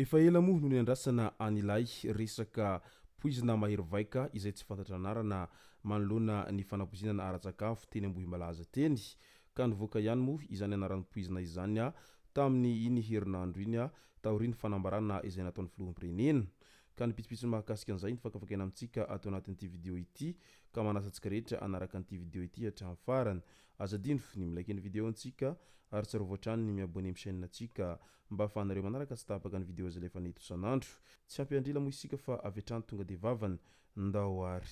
Efa ela moa no niandrasana an'ilay resaka poizina mahery vaika izay tsy fantatra anarana manoloana ny fanapoizinana ara-tsakafo teny Ambohimalaza teny, ka nivoaka ihany moa izany anaran'ny poizina izany tamin'ny iny herinandro iny taorian'ny fanambarana izay nataon'ny Filoham-pirenena, ka ny pitsopitsony mahakasika an'izay no fakafakaina amintsika ato anatin'ity video ity, ka manasa antsika rehetra hanaraka an'ity video ity hatramin'ny farany. Aza adino ny mi-like ny video antsika, ary tsarovy hatrany ny mi-abonner amin'ny chaîne antsika, mba hahafahanareo manaraka tsy tapaka ny video zlefa-ny eto isan'andro. Tsy ampy andrila moa isika fa avy hatrany tonga dia vavany Ndao ary.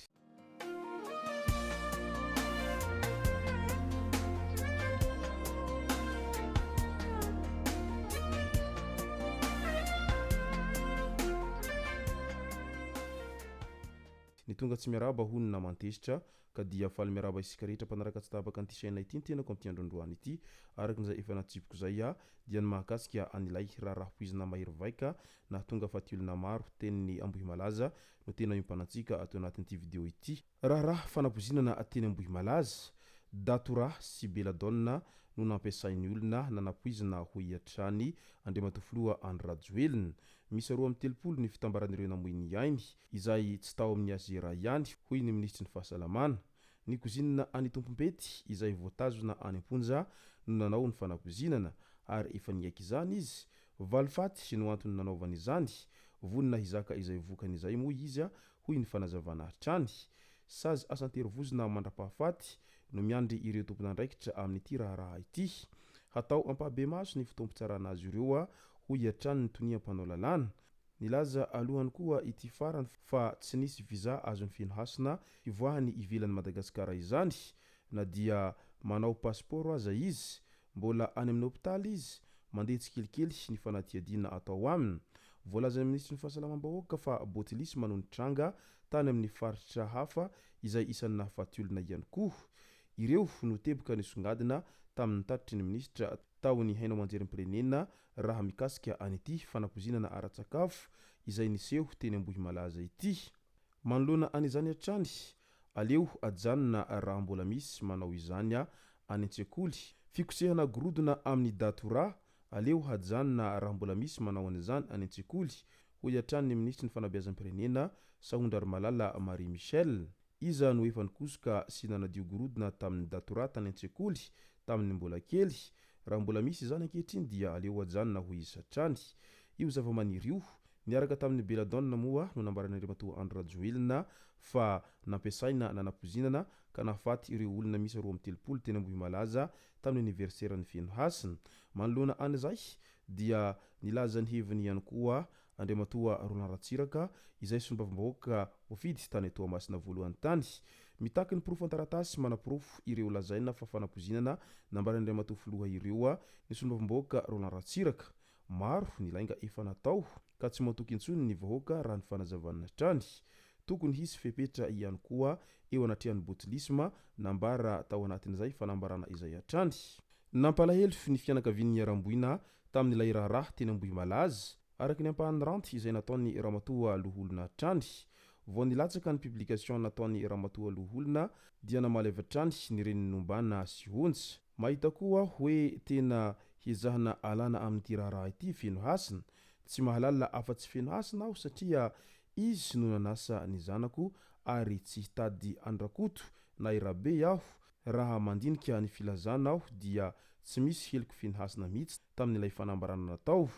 Ny tonga tsy miarahaba hono ny naman tezitra, ka dia faly miarahaba isika rehetra mpanaraka tsy tapaka an'ity chaîne ity ny tenako amin'ity androandroany ity. Araka ny izay efa natsipiko izay aho, dia ny mahakasika an'ilay raharaha poizina mahery vaika nahatonga faty olona maro, tenin'i Ambohimalaza, no tena iompanantsika ato anatin'ity video ity. Raharaha fanabozinana teny Ambohimalaza, Datura sy Belladonna no nampiasain'ny olona nanapoizina hoy hatrany Andriamatoa Filoha Andry Rajoelina. Miisa roa amby telopolo ny fitambaran'ireo namoy ny ainy, izay tsy tao amin'ny azy iray ihany hoy ny Minisitry ny Fahasalamana. Ny kozinina any Tompompety izay voatazona any am-ponja no nanao ny fanabozinana ary efa niaiky izany izy Valifaty no antony nanaovany izany, vonona hizaka izay vokany izay moa izy, hoy ny fanazavana hatrany. Sazy asan-terivozona mandra-pahafaty no miandry ireo tompon'andraikitra amin'ity raharaha ity. Hatao ampahabemaso ny fotoam-pitsarana azy ireo, hoy hatrany ny tonia mpanao lalàna. Nilaza alohany koa ity farany fa tsy nisy visa azon'ny feno hasina hivoahany ivelan'i Madagasikara izany na dia manao pasipaoro aza izy, Mbola any amin'ny hopitaly izy, mandeha tsikelikely ny fanadihadiana atao aminy. Voalazan'ny minisitry ny Fahasalamam-bahoaka fa botilisma no nitranga tany amin'ny faritra hafa izay isan'ny nahafaty olona ihany koa. Ireo no teboka nisongadina tamin'ny tatitry ny minisitra tao ny haino aman-jerim-pirenena raha mikasika an'ity fanapoizinana ara-tsakafo izay niseho teny Ambohimalaza ity. Manoloana an'izany hatrany, Aleo ajanona raha mbola misy manao izany any an-tsekoly. Fikosehana gorodona amin'ny datura, aleo hajanona raha mbola misy manao an'izany any an-tsekoly, hoy hatrany ny minisitry ny Fanabeazam-pirenena, Sahondrarimalala Marie Michelle. Iza no efa nikosoka sy nanadio gorodona tamin'ny datura tany an-tsekoly tamin'ny mbola kely? Raha mbola misy izany ankehitriny dia aleo ajanona, hoy izy hatrany. Io zavamaniry io, Niaraka tamin'ny Belladonna moa no nambaran'Andriamatoa Andry Rajoelina fa nampiasaina nanapoizinana ka nahafaty ireo olona miisa roa amby telopolo teny Ambohimalaza tamin'ny aniverseran'ny Fenohasina. Manoloana an'izay dia nilaza ny heviny ihany koa Andriamatoa Roland Ratsiraka izay solombavambahoaka voafidy tany Toamasina voalohany tany. Mitaky ny porofo an-taratasy manaporofo ireo lazaina fa fanapoizinana nambaran'Andriamatoa Filoha ireo ny solombavambahoaka Roland Ratsiraka. Maro ny lainga efa natao ka tsy matoky intsony ny vahoaka raha ny fanazavana hatrany. Tokony hisy fepetra ihany koa eo anatrehan'ny botulisme, nambara tao anatin'izay fanambarana izay hatrany. Nampalahelo ny fianakavian'ny niharam-boina tamin'ilay raharaha teny Ambohimalaza, araka ny ampahan'ny ranty izay nataon'ny Ramatoa Loholona hatrany. Vao nilatsaka ny publication nataon'ny Ramatoa Loholona dia namaly avy hatrany ny reniny nombana sy honja. Mahita koa aho hoe tena hiezahana alana amin'ity raharaha ity feno hasina. Tsy mahalala afa-tsy feno hasina aho satria izy no nanasa ny zanako ary tsy hitady an-dRakoto na i Rabe aho raha mandinika ny filazana aho dia tsy misy heloky feno hasina mihitsy tamin'ilay fanambarana natao.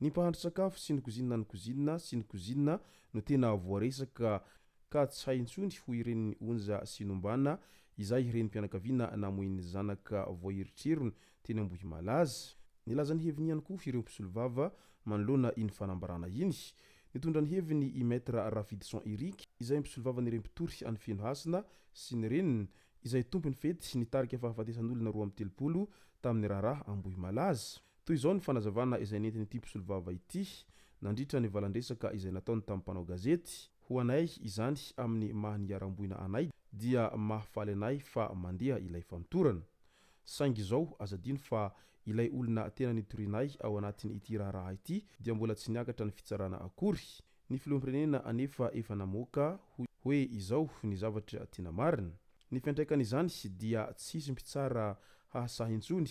Ny mpahandry sakafo sy ny kozinina ny kozinina sy ny kozinina no tena voaresaka ka tsy hay intsony hoy ireny Onja sy Nombana izay renim-pianakaviana namoin'ny zanaka voaherotrerony teny Ambohimalaza. Nilaza ny heviny ihany koa ireo mpisolovava manoloana iny fanambarana iny. Nitondra ny heviny i Maître Rafidison Eric izay mpisolovavan'ireo mpitory any Fenohasina sy ny reniny izay tompon'ny fety nitarika fahafatesan'olona roa amby telopolo tamin'ny raharaha Ambohimalaza. Toy izao ny fanazavana izay nentin'ity mpisolovava ity nandritra ny valandresaka izay nataony tamin'ny mpanao gazety. Ho anay izany amin'ny maha niharam-boina anay dia mahafaly anay fa mandeha ilay famotorana. Saingy izao aza adino fa ilay olona tena nitorianay ao anatin' ity raharaha ity dia mbola tsy niakatra ny fitsarana akory. Ny filoham-pirenena anefa efa namoaka hoe izao ny zavatra tena marina. Ny fiantraikan' izany dia tsy hisy mpitsara hahasahy intsony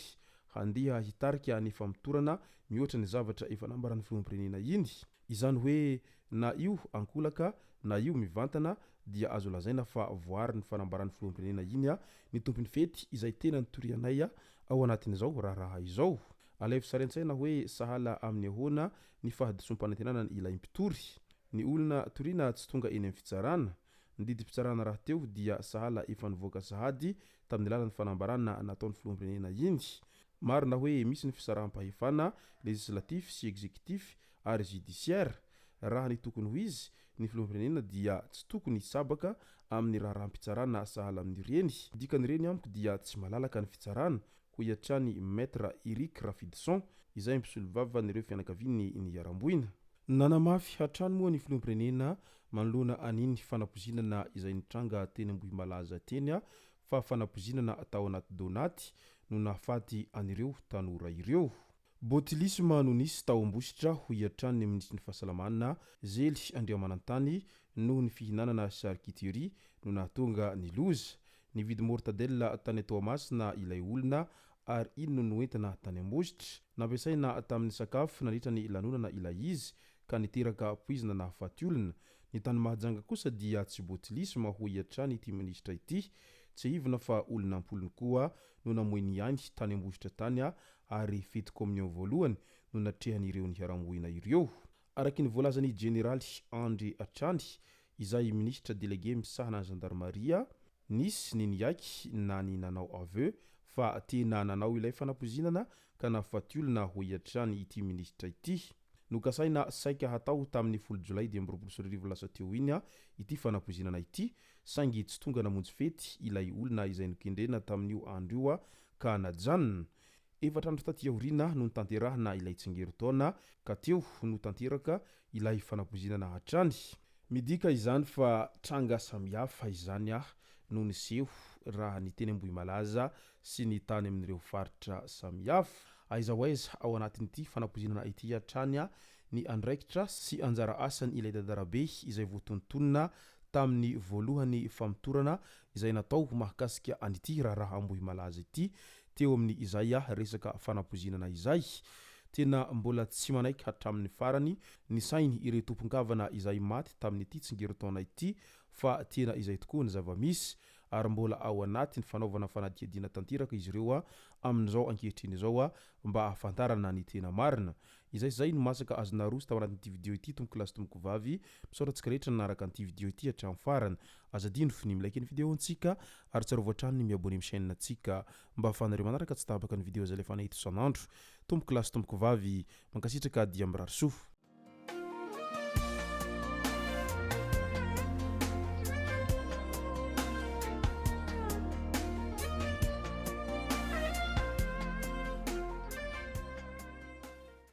handeha hitarika ny famotorana mihoatra ny zavatra efa nambaran'ny filoham-pirenena iny. Izany hoe na io ankolaka na io mivantana dia azo lazaina fa voaary ny fanambaran'ny filoham-pirenena iny ny tompon'ny fety izay tena nitorianay ao anatin'izao raharaha izao. Alaivo sary an-tsaina hoe sahala amin'ny ahoana ny fahadisoam-panantenana ny ilay mpitory. Ny olona toriana tsy tonga eny amin'ny fitsarana Ny didim-pitsarana rahateo dia sahala efa nivoaka sahady tamin'ny alalan'ny fanambarana nataon'ny filoham-pirenena iny. Marina hoe misy ny fisaraham-pahefana legislatif sy executif ary judiciaire. Raha ny tokony ho izy, ny filoham-pirenena dia tsy tokony hisabaka amin'ny raharaham-pitsarana sahala amin'ireny. Ny dikan'ireny amiko dia tsy malalaka ny fitsarana, hoy hatrany Maître Eric Rafidison, izay mpisolovava an'ireo fianakavian'ny niharam-boina. Nanamafy hatrany moa ny filoham-pirenena manoloana an'iny fanapozinana izay nitranga teny Ambohimalaza teny fa fanapozinana tao anaty donaty no nahafaty an'ireo tanora ireo. Botulisme no nisy tao Ambositra, hoy hatrany ny minisitrin'ny Fahasalamana, Zely Andriamanantany, noho ny fihinanana charcuterie no nahatonga ny loza. Nividy mortadella tany Toamasina ilay olona ary iny no noentina tany Ambositra. Nampiasaina tamin'ny sakafo nandritra ny lanonana ilay izy ka niteraka poizina nahafaty olona. Ny tany Mahajanga kosa dia tsy botulisme hoy hatrany ity minisitra ity. Tsiahivina fa olona am-polony koa no namoy ny ainy tany Ambositra tany ary fety communion voalohany no natrehan'ireo niharam-boina ireo. Araky ny voalazan'ny Jeneraly Andry Hatrany, izay Minisitra Delege misahana ny Zandarimaria, nisy ny niaiky na ny nanao aveu fa tena nanao ilay fanapoizinana ka nahafaty olona, hoy hatrany ity Minisitra ity. Nokasaina saika hatao tamin'ny folo Jolay dimy amby roapolo sy roa arivo lasa teo iny ity fanapoizinana ity, saingy tsy tonga namonjy fety ilay olona izay nokendrena tamin'io andro io ka najanona. Efatra andro taty aoriana no nitanterahana ilay tsingerin-taona ka teo no tanteraka ilay fanakozinana hatrany. Midika izany fa tranga samihafa izany no niseho raha ny teny Ambohimalaza sy ny tany amin'ireo faritra samihafa. Aiza ho aiza ao anatin'ity fanakozinana ity hatrany ny andraikitra sy anjara asan' ilay dadarabe izay voatontonina tamin'ny voalohany famotorana izay natao mahakasika an'ity raharaha Ambohimalaza ity teo amin'ny izay a resaka fanapoizinana izay. Tena mbola tsy manaiky hatramin'ny farany ny sainy ireo tompon-kavana izay maty tamin'ity tsingerin-taona ity fa tena izay tokoa ny zava-misy ary mbola ao anatin'ny fanaovana fanadihadiana tanteraka izy ireo amin'izao ankehitriny izao mba hahafantarana ny tena marina. Izay sy izay no masaka azonao aroso tao anatin'ity video ity tompokolahy sy tompokovavy. Misaotra antsika rehetra nanaraka an'ity video ity hatramin'ny farany. Aza adino f'ny mi-like ny video ntsika ary tsarovy hatrany ny mi-abonner amin'ny chaîne ntsika mba ahafahanareo manaraka tsy tapaka ny video zalefanay eto isan'andro. Tompokolahy sy tompokovavy, mankasitraka dia mirary soa.